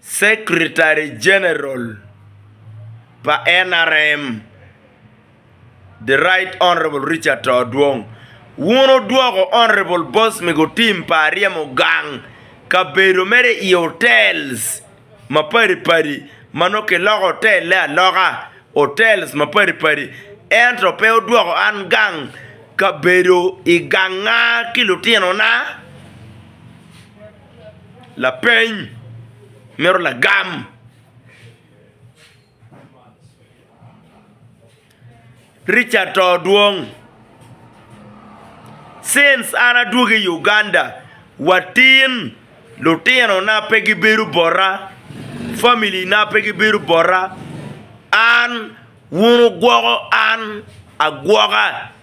Secretary General pa NRM, The Right Hon. Richard To Odwong, wun wudwoko Hon. Bosmic Otim pa Aryemo gang kabedo mere i hotels mapadi padi ma nongo kiloko hotelle aloka hotels mapadi padi ento pe wudwoko an gang kabedo i ganga ki lutinona. Lapeny, mito lagam. Richard to dwong. Since an adwogo i Uganda, watin lutinona pe gibedo bota, family na pe gibedo bota, an wun wugwoko an agwoka.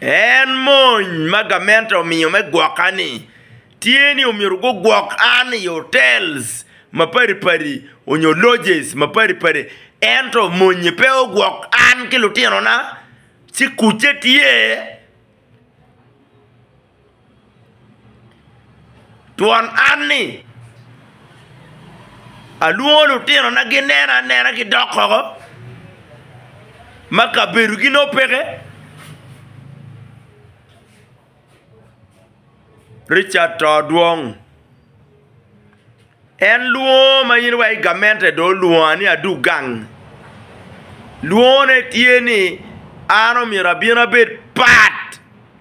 En mony ma gamente omiyo me gwoka-ni tye ni omyero gugwok an i hotels mapadi padi onyo lodges mapadi padi ento mony-nyi pe ogwok an ki lutinona ci kucce tye Twon an ni, alwongo lutinona ginena anena gidok oko ma kabedogi nongo peke. Ricat to dwong, en lwongo ma in wa i gamente dong olwonga ni adog gang, lwongone tye ni an omyero abin abed pat.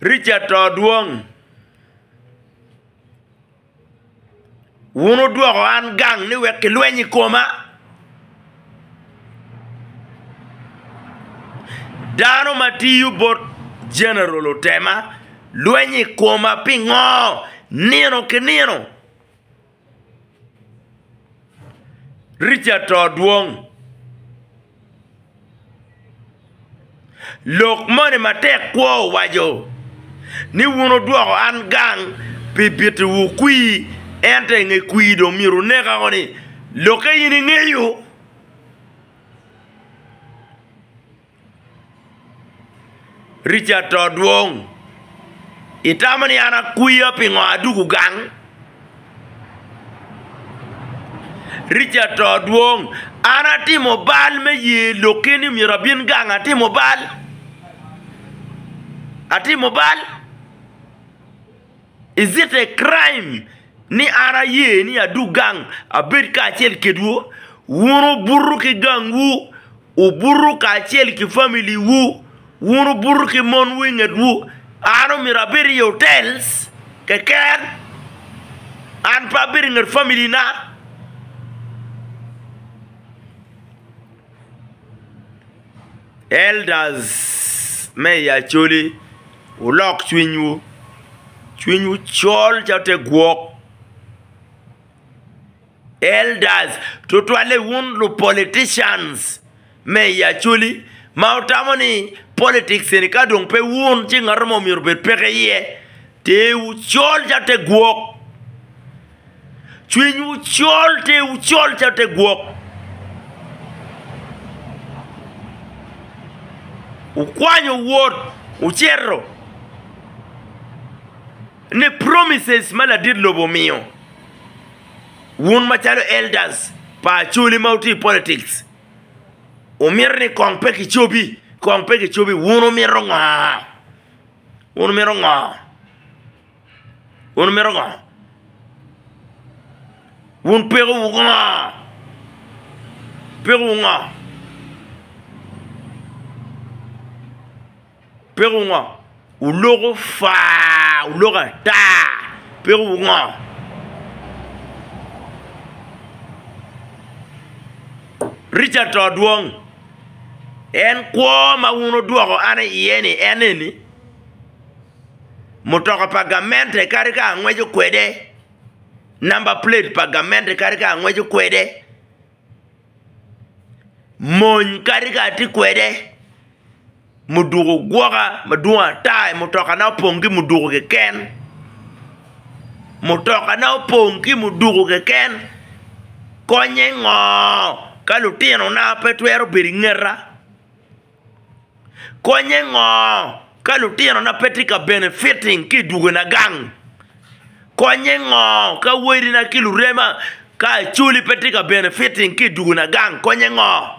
Richard to dwong, wun wudwoko an gang ni wek kilweny i koma. Dano ma tiyo bot Jeneral otema lweny i koma pingo nino ki nino? Richard to dwong. Lok moni matek kwo owaco ni wun wudwoko an gang pi bitowu kwir, ento i nge kwir dong myero wuneka ko ni, Lokke in ingeyo? Richard to dwong. Itamo ni an akwiya pingo adwogo gang? Richard to dwong. An atimo bal me ye lok keni myero abin gang atimo bal? Atimo bal? Is it a crime ni an aye ni adug gang abed kacel kedwu? Wun wubuto ki gangwu, wubuto kacel ki familiwu, wun wubuto ki monwu i ngetwu. An omyero abed i otel keken? An pe abedo i nget familina? Elders me i Acholi, wulok cwinywu, cwinywu col calo te gwok. Elders tutwalle wun lu politicians me i Acholi ma wutamo ni politics eni ka dong pe wun ci ngato mo myero obed peke iye. Teewu col calo te gwok. Cwinywu col, tewu col calo te gwok. Wukwanyo wot, wucito ne promises ma ladit lobo omiyo. Wun macalo elders pa Acholi ma wutye i politics, wumito ni kong pe kicobi, kong pe kicobi. Wun wumito ngo? Wun wumito ngo? Wun wumito ngo? Wun pekowu ngo? Pekowu ngo? Pekowu ngo? Wuloko faa, wuloko ata. Pekowu ngo? Richard to dwong. En kwo ma wun wudwoko an iye-ni en eni. mutoka pa gamente kadi ka angweco kwede, namba plate pa gamente kadi ka angweco kwede, mony kadi ka atye kwede, muduku gwoka madwong ata i mutokana opong ki muduku keken, mutokana opong ki muduku keken, konye ngo ka lutinona pe twero bedo i ngeta? Konye ngo ka lutino na pe tye ka benefiting ki i dwogo na gang? Konye ngo ka wodi na ki lurema ka acholi pe tye ka benefiting ki i dwogo na gang? Konye ngo?